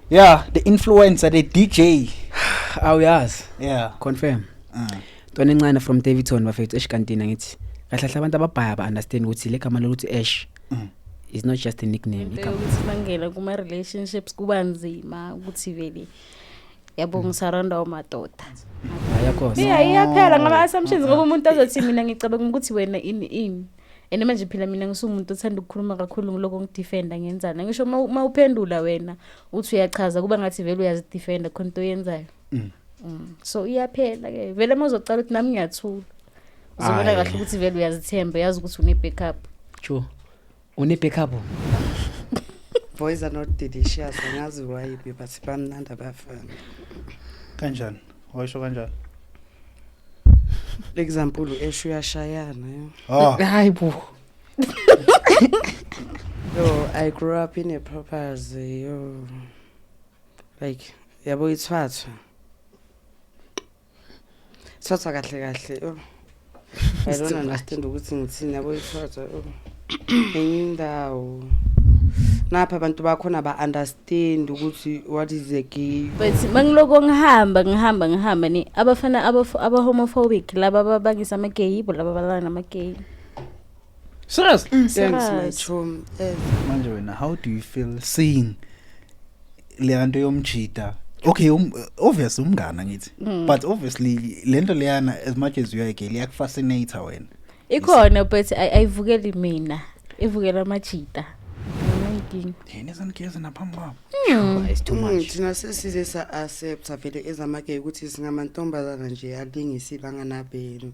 yeah the influencer the dj awuyazi yeah confirm mm. ntwana encane from davidson bafethu eshikantina ngithi kahle kahle abantu ababhaya ba understand ukuthi le gama lokuthi ash mm. is not just a nickname igama ukuthi mangela kuma relationships kuba nzima ukuthi vele yabo mm. ngisaranda umadoda ayakho yeah iyaphela ngama assumptions ngoba umuntu azothi mina ngicabanga ukuthi wena ini ini and manje phela mina ngisumuntu othanda ukukhuluma kakhulu ngiloko ngidefenda ngenzana ngisho uma uphendula wena uthi uyachaza kuba ngathi vele uyazidefenda khona into oyenzayo mm. mm. so iyaphela ke vele uma uzocala ukuthi nami ngiyathula uzobona kahle ukuthi vele uyazithemba yazi ukuthi une-backup true une-backup boys are not delicious angazi why but bamnandi abafana kanjani Waysho kanjani? Example esho uyashayana. yo. Ah, Hayi bo. Yo, I grew up in a properties yo. Like yabo ithwathwa. Thwathwa kahle kahle. yo. I don't understand ukuthi ngithini yabo ithatha enye indawo napha abantu bakhona ba understand ukuthi what is the gay but mangiloko ngihamba ngihamba ngihamba ni abafana aba homophobic laba babangisa ama gay yibo laba balana nama gay Serious? Thanks my Serious. chum. Eh, Manje wena how do you feel seeing leyanto yomjita? Okay, um, obvious umngana ngithi. Mm. But obviously lento leyana as much as you are gay, liyak fascinate wena. ikhona but ay- ayivukeli mina ivukela amajita Nginenkinga. Yena esanigeza naphambi kwabo. Sure, it's too mm, much thina sesize sa accept vele ezamakeke ukuthi singamantombazana nje alingisile anganabeni.